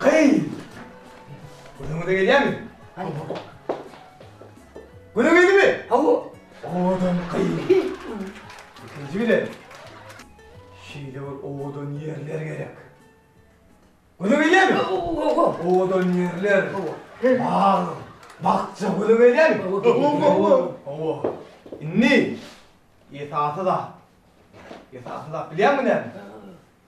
Gyz! Günüňize gelýärmi? Hawa. Günüň gelimi? Hawa. Owadan gyz. Ikinji bilen. Şeýle bir owadan ýerler gerek. Günüň gelýärmi? Hawa. Owadan ýerler. Hawa. Bag, bakja günüň gelýärmi? Hawa. Hawa. Indi esasy zat. Esasy zat bilýärmi näme?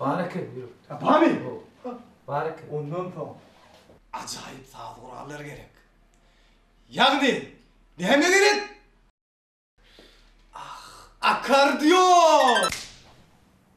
Bar eken ýürek. Ha barmy? Bar eken. Ondan soň ajaýyp saz gurallary gerek. Ýagny näme gerek? Ah, akkordeon!